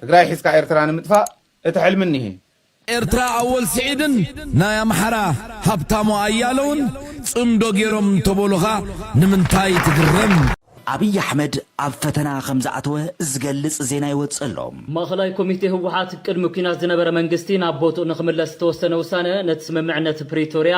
ትግራይ ሒዝካ ኤርትራ ንምጥፋእ እቲ ሕልሚ እኒሀ። ኤርትራ ኣወል ስዒድን ናይ ኣምሓራ ሃብታሙ ኣያለውን ጽምዶ ጌሮም እንተበሉኻ ንምንታይ ትግረም? ኣብይ ኣሕመድ ኣብ ፈተና ከምዝኣተወ ዝገልፅ ዜና ይወፅእ ኣሎ። ማእኸላይ ኮሚቴ ህወሓት ቅድሚ ኲናት ዝነበረ መንግስቲ ናብ ቦትኡ ንኽምለስ ዝተወሰነ ውሳነ ነቲ ስምምዕነት ፕሪቶርያ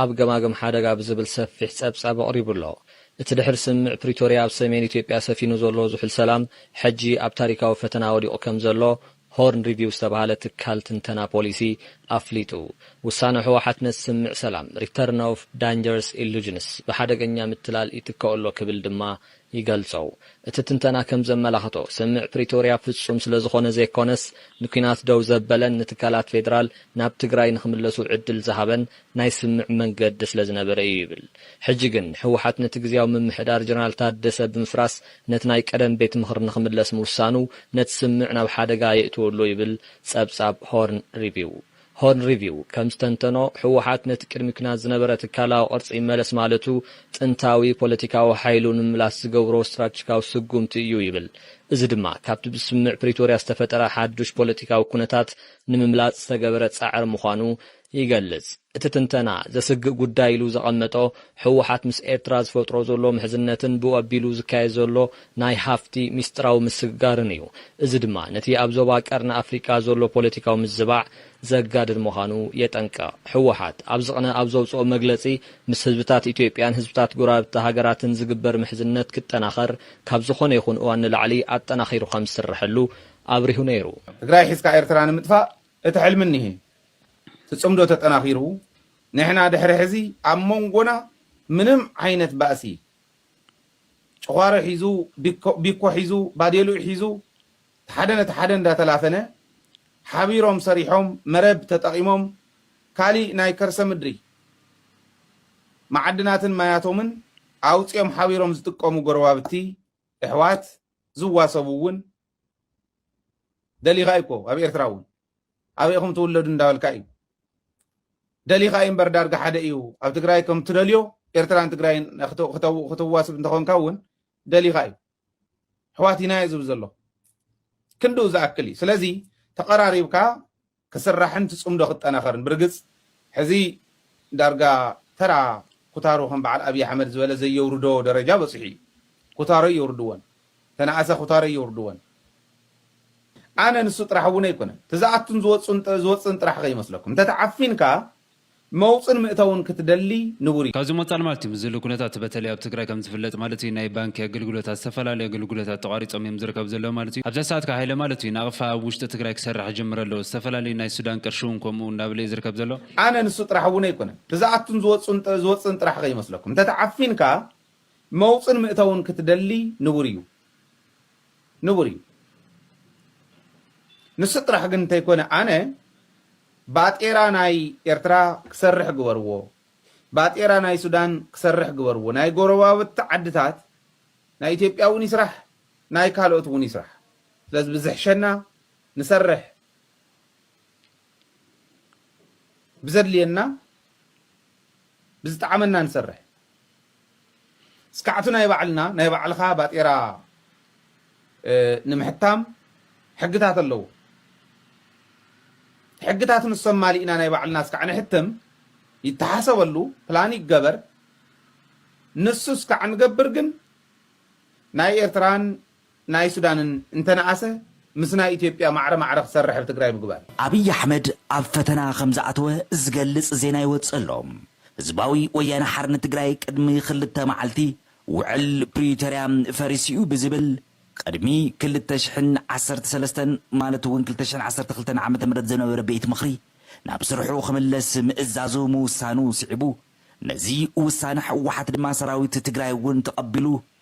ኣብ ገማግም ሓደጋ ብዝብል ሰፊሕ ጸብጻብ ኣቕሪቡ ኣሎ። እቲ ድሕሪ ስምምዕ ፕሪቶርያ ኣብ ሰሜን ኢትዮጵያ ሰፊኑ ዘሎ ዝሑል ሰላም፣ ሕጂ ኣብ ታሪካዊ ፈተና ወዲቑ ከምዘሎ ሆርን ሪቪው ዝተባህለ ትካል ትንተና ፖሊሲ ኣፍሊጡ። ውሳነ ህወሓት ነቲ ስምምዕ ሰላም፣ Return of Dangerous Illusions፣ ብሓደገኛ ምትላል ይትከኦ ኣሎ ክብል ድማ ይገልጾ። እቲ ትንተና ከም ዘመላኽቶ፣ ስምምዕ ፕሪቶርያ ፍጹም ስለ ዝኾነ ዘይኮነስ፣ ንኲናት ደው ዘበለን ንትካላት ፌደራል ናብ ትግራይ ንኽምለሱ ዕድል ዝሃበን ናይ ስምምዕ መንገዲ ስለ ዝነበረ እዩ ይብል። ሕጂ ግን፣ ህወሓት ነቲ ግዝያዊ ምምሕዳር ጀነራል ታደሰ ብምፍራስ ነቲ ናይ ቀደም ቤት ምኽሪ ንኽምለስ ምውሳኑ ነቲ ስምምዕ ናብ ሓደጋ የእትዎ'ሎ ይብል ጸብጻብ ሆርን ሪቪው። ሆርን ሪቪው ከም ዝተንተኖ፣ ህወሓት ነቲ ቅድሚ ኲናት ዝነበረ ትካላዊ ቅርጺ ይመለስ ማለቱ ጥንታዊ ፖለቲካዊ ሓይሉ ንምምላስ ዝገብሮ ስትራተጂካዊ ስጉምቲ እዩ ይብል። እዚ ድማ ካብቲ ብስምምዕ ፕሪቶርያ ዝተፈጠረ ሓዱሽ ፖለቲካዊ ኩነታት ንምምላጽ ዝተገበረ ጻዕሪ ምዃኑ ይገልጽ። እቲ ትንተና፣ ዘስግእ ጉዳይ ኢሉ ዘቐመጦ፣ ህወሓት ምስ ኤርትራ ዝፈጥሮ ዘሎ ምሕዝነትን ብኡ ኣቢሉ ዝካየድ ዘሎ ናይ ሃፍቲ ሚስጥራዊ ምስግጋርን እዩ። እዚ ድማ ነቲ ኣብ ዞባ ቀርኒ ኣፍሪቃ ዘሎ ፖለቲካዊ ምዝባዕ ዘጋድድ ምዃኑ የጠንቅቕ። ህወሓት ኣብዚ ቅነ ኣብ ዘውጽኦ መግለጺ፣ ምስ ህዝብታት ኢትዮጵያን ህዝብታት ጎረባብቲ ሃገራትን ዝግበር ምሕዝነት ክጠናኸር ካብ ዝኾነ ይኹን እዋን ንላዕሊ ኣጠናኺሩ ከም ዝስረሐሉ ኣብሪሁ ነይሩ። ትግራይ ሒዝካ ኤርትራ ንምጥፋእ እቲ ሕልሚ እኒሀ። እቲ ጽምዶ ተጠናኺሩ፣ ንሕና ድሕሪ ሕዚ ኣብ ሞንጎና ምንም ዓይነት ባእሲ ጭዃሮ ሒዙ፣ ቢኮ ሒዙ፣ ባዴልኡ ሒዙ እቲ ሓደ ነቲ ሓደ እንዳተላፈነ ሓቢሮም ሰሪሖም መረብ ተጠቒሞም ካሊእ ናይ ከርሰ ምድሪ መዓድናትን ማያቶምን ኣውፂኦም ሓቢሮም ዝጥቀሙ ጎረባብቲ፣ እሕዋት፣ ዝዋሰቡ እውን ደሊካ እዩ እኮ ኣብ ኤርትራ እውን ኣበይ ኢኹም ትውለዱ እንዳበልካ እዩ ደሊካ እዩ እምበር ዳርጋ ሓደ እዩ ኣብ ትግራይ ከም ትደልዮ ኤርትራን ትግራይን ክትዋስብ እንተኾንካ እውን ደሊካ እዩ ኣሕዋት ኢና እዩ ዝብል ዘሎ ክንድኡ ዝኣክል እዩ ስለዚ ተቐራሪብካ ክስራሕን እቲ ጽምዶ ክጠናኸርን ብርግጽ ሕዚ ዳርጋ ተራ ኩታሩ ከም በዓል ኣብይ ኣሕመድ ዝበለ ዘየውርዶ ደረጃ በጺሑ እዩ ኩታሮ ኣየውርድዎን ተናኣሰ ኩታሮ ኣየውርድዎን ኣነ ንሱ ጥራሕ እውን ኣይኮነን እቲ ዝኣቱን ዝወጽን ዝወጽእን ጥራሕ ከይመስለኩም እንተ ተዓፊንካ መውፅን ምእተውን ክትደሊ ንቡር እዩ። ካብዚ ምቕፃል ማለት እዩ ምስዝሉ ኩነታት በተለይ ኣብ ትግራይ ከምዝፍለጥ ማለት እዩ ናይ ባንኪ ኣገልግሎታት ዝተፈላለዩ ኣገልግሎታት ተቋሪፆም እዮም ዝርከቡ ዘለው ማለት እዩ። ኣብዛ ሰዓት ከዓ ሃይለ ማለት እዩ ናቕፋ ኣብ ውሽጢ ትግራይ ክሰርሕ ጀምረ ኣሎ ዝተፈላለዩ ናይ ሱዳን ቅርሺ እውን ከምኡ እናበለ እዩ ዝርከብ ዘሎ። ኣነ ንሱ ጥራሕ እውን ኣይኮነን ብዝኣቱን ዝወፅእን ጥራሕ ከይመስለኩም እንተተዓፊንካ መውፅን ምእተውን ክትደሊ ንቡር እዩ። ንቡር እዩ ንሱ ጥራሕ ግን እንተይኮነ ኣነ ባጤራ ናይ ኤርትራ ክሰርሕ ግበርዎ ባጤራ ናይ ሱዳን ክሰርሕ ግበርዎ ናይ ጎረባብቲ ዓድታት ናይ ኢትዮጵያ እውን ይስራሕ ናይ ካልኦት እውን ይስራሕ ስለዚ ብዝሕሸና ንሰርሕ ብዘድልየና ብዝጠዓመና ንሰርሕ ስካዕቱ ናይ ባዕልና ናይ ባዕልኻ ባጤራ ንምሕታም ሕግታት ኣለዎ ሕግታት ንሶም ማሊእና ናይ ባዕልና ስካዕ ንሕትም ይተሓሰበሉ ፕላን ይገበር ንሱ ስካዕ ንገብር ግን ናይ ኤርትራን ናይ ሱዳንን እንተነኣሰ ምስ ናይ ኢትዮጵያ ማዕረ ማዕረ ክሰርሕ ኣብ ትግራይ ምግባር። ኣብይ ኣሕመድ ኣብ ፈተና ከምዝኣተወ ዝገልፅ ዜና ይወፅእ ኣሎ። ህዝባዊ ወያነ ሓርነት ትግራይ ቅድሚ ክልተ መዓልቲ ውዕል ፕሪቶርያ ፈሪሱ እዩ ብዝብል ቅድሚ ክልተ ሽሕን ዓሰርተ ሰለስተን ማለት እውን ክልተ ሽሕን ዓሰርተ ክልተን ዓመተ ምህረት ዝነበረ ቤት ምኽሪ ናብ ስርሑ ክምለስ ምእዛዙ ምውሳኑ ስዒቡ ነዚ ውሳነ ህወሓት ድማ ሰራዊት ትግራይ እውን ተቐቢሉ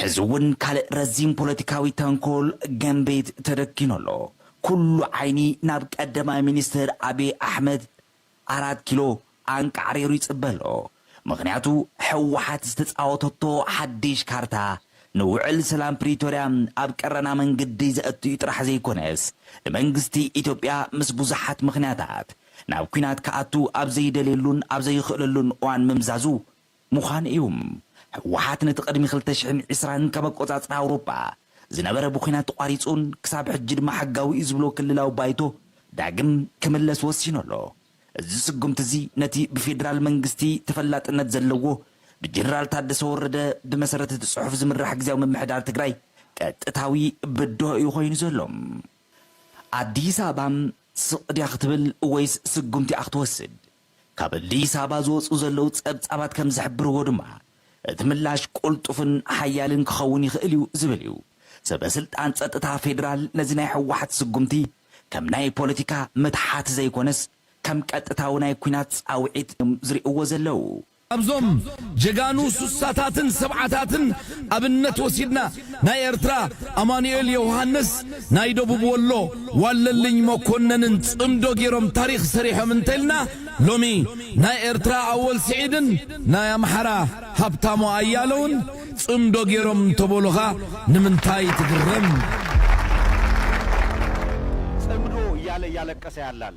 ሕዚ ውን ካልእ ረዚን ፖለቲካዊ ተንኮል ገምቤት ተደኪኑ ኣሎ። ኩሉ ዓይኒ ናብ ቀደማይ ሚኒስትር ኣቢይ ኣሕመድ፣ ኣራት ኪሎ፣ ኣንቃዕሪሩ ይጽበ ኣሎ። ምኽንያቱ ህወሓት ዝተጻወተቶ ሓዲሽ ካርታ ንውዕል ሰላም ፕሪቶርያ ኣብ ቀረና መንግዲ ዘእቱ እዩ ጥራሕ ዘይኮነስ ንመንግስቲ ኢትዮጵያ ምስ ብዙሓት ምኽንያታት ናብ ኲናት ክኣቱ ኣብ ዘይደልየሉን ኣብ ዘይኽእለሉን እዋን ምምዛዙ ምዃኑ እዩ። ህወሓት ነቲ ቅድሚ ክልተ ሽሕን ዕስራን ካብ ኣቆፃፅራ ኣውሮፓ ዝነበረ ብኩናት ተቋሪፁን ክሳብ ሕጂ ድማ ሕጋዊ እዩ ዝብሎ ክልላዊ ባይቶ ዳግም ክምለስ ወሲኑ ኣሎ። እዚ ስጉምቲ እዚ ነቲ ብፌዴራል መንግስቲ ተፈላጥነት ዘለዎ ብጀነራል ታደሰ ወረደ ብመሰረት እቲ ፅሑፍ ዝምራሕ ግዝያዊ ምምሕዳር ትግራይ ቀጥታዊ ብድሆ እዩ ኮይኑ ዘሎ። ኣዲስ ኣበባ ስቕ ድያ ክትብል ወይስ ስጉምቲ እያ ክትወስድ? ካብ ኣዲስ ኣበባ ዝወጽኡ ዘለዉ ጸብጻባት ከም ዝሕብርዎ ድማ፣ እቲ ምላሽ ቅልጡፍን ሓያልን ክኸውን ይኽእል እዩ ዝብል እዩ። ሰበ ስልጣን ጸጥታ ፌደራል ነዚ ናይ ህወሓት ስጉምቲ ከም ናይ ፖለቲካ ምትሓት ዘይኮነስ ከም ቀጥታዊ ናይ ኲናት ጻውዒት እዮም ዝርእይዎ ዘለዉ። ካብዞም ጀጋኑ ሱሳታትን ሰብዓታትን ኣብነት ወሲድና ናይ ኤርትራ ኣማኑኤል የውሃንስ ናይ ደቡብ ወሎ ዋለልኝ መኮነንን ጽምዶ ጌሮም ታሪኽ ሰሪሖም እንተልና ሎሚ ናይ ኤርትራ ኣወል ስዒድን ናይ ኣምሓራ ሃብታሙ ኣያለውን ጽምዶ ጌሮም እንተበሉኻ ንምንታይ ትግረም? ጽምዶ እያለ እያለቀሰ ያላል።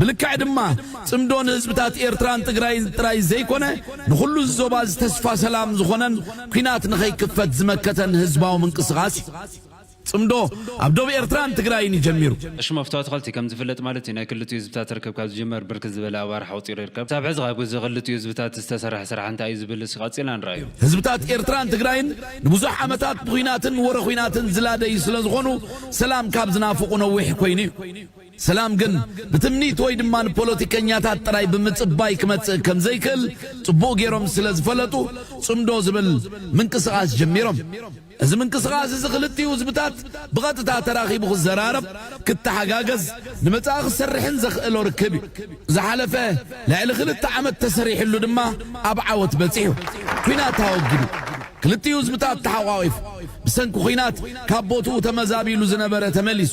ብልክዕ ድማ ጽምዶ ንህዝብታት ኤርትራን ትግራይን ጥራይ ዘይኮነ ንኹሉ እዚ ዞባ እዚ ተስፋ ሰላም ዝኾነን ኩናት ንኸይክፈት ዝመከተን ህዝባዊ ምንቅስቓስ እዩ። ጽምዶ ኣብ ዶብ ኤርትራን ትግራይን እዩ ጀሚሩ። ቀሺ መፍቶ ኣትኸልቲ ከም ዝፍለጥ ማለት እዩ ናይ ክልቲኡ ህዝብታት ርክብ ካብ ዝጅመር ብርክት ዝበለ ኣዋርሕ ኣቑጺሩ ይርከብ። ክሳብ ሕዚ ከ ኣብዚ ክልቲኡ ህዝብታት ዝተሰርሐ ስራሕ እንታይ እዩ ዝብል እስኪ ቀጺልና ንርኣዮ። ህዝብታት ኤርትራን ትግራይን ንብዙሕ ዓመታት ብኹናትን ወረ ኹናትን ዝላደዩ ስለ ዝኾኑ ሰላም ካብ ዝናፍቑ ነዊሕ ኮይኑ እዩ። ሰላም ግን ብትምኒት ወይ ድማ ንፖለቲከኛታት ጥራይ ብምጽባይ ክመጽእ ከም ዘይክእል ጽቡቕ ገይሮም ስለ ዝፈለጡ ጽምዶ ዝብል ምንቅስቓስ ጀሚሮም። እዚ ምንቅስቓስ እዚ ክልቲኡ ህዝብታት ብቐጥታ ተራኺቡ ክዘራረብ፣ ክተሓጋገዝ፣ ንመጻኢ ክሰርሕን ዘኽእሎ ርክብ እዩ። ዝሓለፈ ልዕሊ ክልተ ዓመት ተሰሪሕሉ ድማ ኣብ ዓወት በጺሑ። ኲናት ኣወጊዱ። ክልቲኡ ህዝብታት ተሓቛቒፉ። ብሰንኪ ኲናት ካብ ቦትኡ ተመዛቢሉ ዝነበረ ተመሊሱ።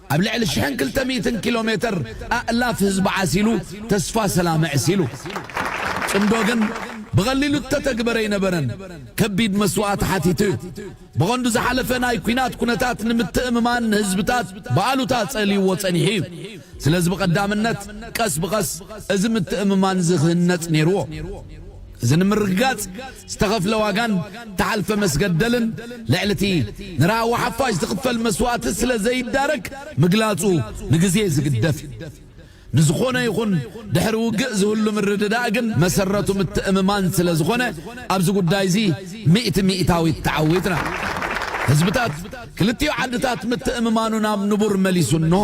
ኣብ ልዕሊ ሽሕን ክልተ ሚእትን ኪሎ ሜተር ኣእላፍ ህዝቢ ዓሲሉ ተስፋ ሰላም ኣዕሲሉ። ጽምዶ ግን ብቐሊሉ እተተግበረ ኣይነበረን፣ ከቢድ መስዋእቲ ሓቲቱ እዩ። ብቐንዱ ዝሓለፈ ናይ ኲናት ኩነታት ንምትእምማን ህዝብታት ብኣሉታ ጸልዩዎ ጸኒሑ እዩ። ስለዚ ብቐዳምነት ቀስ ብቐስ እዚ ምትእምማን እዚ ክህነጽ ነይሩዎ። እዚ ንምርግጋጽ ዝተኸፍለ ዋጋን እተሓልፈ መስገደልን ልዕሊ እቲ ንራህዋ ሓፋሽ ዝኽፈል መስዋእቲ ስለ ዘይዳረግ ምግላጹ ንግዜ ዝግደፍ እዩ። ንዝኾነ ይኹን ድሕሪ ውግእ ዝህሉ ምርድዳእ ግን መሰረቱ ምትእምማን ስለ ዝኾነ ኣብዚ ጉዳይ'ዚ ሚእቲ ሚእታዊት ተዓዊትና። ህዝብታት ክልቲኡ ዓድታት ምትእምማኑ ናብ ንቡር መሊሱ እንሆ።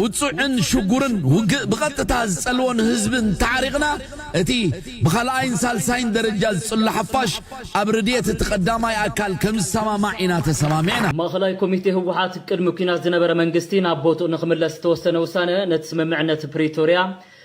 ውጹዕን ሽጉርን ውግእ ብቐጥታ ዝጸልዎን ህዝቢ እንተዓሪቕና፣ እቲ ብኻልኣይን ሳልሳይን ደረጃ ዝጽሎ ሓፋሽ ኣብ ርድየት እቲ ቀዳማይ ኣካል ከምዝሰማማዕ ኢና ተሰማሚዕና። ማእኸላይ ኮሚቴ ህወሓት ቅድሚ ኲናት ዝነበረ መንግስቲ ናብ ቦትኡ ንክምለስ ዝተወሰነ ውሳነ ነቲ ስምምዕነት ፕሪቶርያ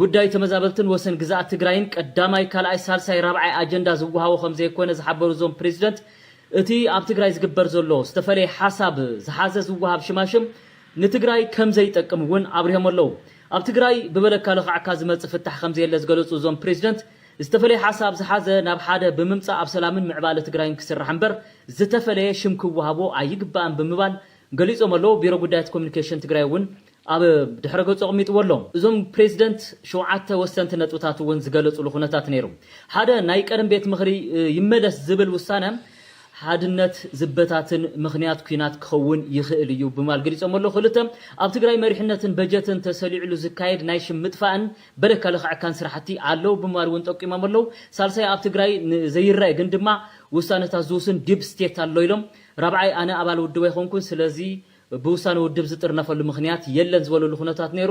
ጉዳይ ተመዛበልትን ወሰን ግዝኣት ትግራይን ቀዳማይ፣ ካልኣይ፣ ሳልሳይ፣ ራብዓይ ኣጀንዳ ዝወሃቦ ከምዘይኮነ ዝሓበሩ እዞም ፕሬዚደንት፣ እቲ ኣብ ትግራይ ዝግበር ዘሎ ዝተፈለየ ሓሳብ ዝሓዘ ዝወሃብ ሽማሽም ንትግራይ ከምዘይጠቅም እውን ኣብሪሆም ኣለው። ኣብ ትግራይ ብበለካ ለኻዕካ ዝመፅእ ፍታሕ ከምዘየለ ዝገለፁ እዞም ፕሬዚደንት፣ ዝተፈለየ ሓሳብ ዝሓዘ ናብ ሓደ ብምምፃእ ኣብ ሰላምን ምዕባለ ትግራይን ክስራሕ እምበር ዝተፈለየ ሽም ክወሃቦ ኣይግባእን ብምባል ገሊፆም ኣለው። ቢሮ ጉዳያት ኮሚኒኬሽን ትግራይ እውን ኣብ ድሕረ ገጹ ኣቕሚጥዎ ኣሎ። እዞም ፕሬዚደንት ሸውዓተ ወሰንቲ ነጥብታት እውን ዝገለፁሉ ኩነታት ነይሩ። ሓደ ናይ ቀደም ቤት ምኽሪ ይመለስ ዝብል ውሳነ ሓድነት ዝበታትን ምኽንያት ኲናት ክኸውን ይኽእል እዩ ብምባል ገሊፆሞ ኣለዉ። ክልተ ኣብ ትግራይ መሪሕነትን በጀትን ተሰሊዑሉ ዝካየድ ናይ ሽም ምጥፋእን በደካ ለኽዐካን ስራሕቲ ኣለዉ ብምባል እውን ጠቂሞም ኣለዉ። ሳልሳይ ኣብ ትግራይ ዘይረኣ ግን ድማ ውሳነታት ዝውስን ዲፕ ስቴት ኣሎ ኢሎም። ራብዓይ ኣነ ኣባል ውድብ ኣይኮንኩን ስለዚ ብውሳነ ውድብ ዝጥርነፈሉ ምኽንያት የለን ዝበሉሉ ኩነታት ነይሩ።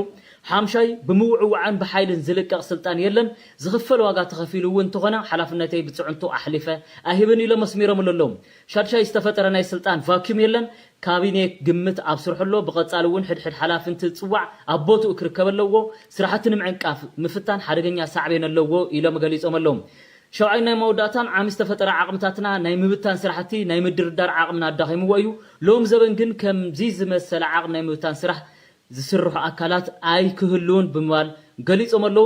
ሓምሻይ፣ ብምውዕዋዕን ብሓይልን ዝልቀቕ ስልጣን የለን፣ ዝኽፈል ዋጋ ተኸፊሉ እውን እንተኾነ ሓላፍነተይ ብፅዕንቶ ኣሕሊፈ ኣይህብን ኢሎም ኣስሚረምሉ ኣለዉ። ሻድሻይ፣ ዝተፈጠረ ናይ ስልጣን ቫክዩም የለን፣ ካቢኔ ግምት ኣብ ስርሑ ኣሎ፣ ብቐፃሊ እውን ሕድ ሕድ ሓላፊ እንትፅዋዕ ኣብ ቦትኡ ክርከብ ኣለዎ፣ ስራሕቲ ንምዕንቃፍ ምፍታን ሓደገኛ ሳዕቤን ኣለዎ ኢሎም ገሊፆም ኣለዉ። ሻውዓይ ናይ መወዳእታን ዓሚ ዝተፈጠረ ዓቕምታትና ናይ ምብታን ስራሕቲ ናይ ምድርዳር ዓቕምና ኣዳኺምዎ እዩ። ሎም ዘበን ግን ከምዚ ዝመሰለ ዓቕም ናይ ምብታን ስራሕ ዝስርሑ ኣካላት ኣይክህልዉን ብምባል ገሊፆም ኣለዉ።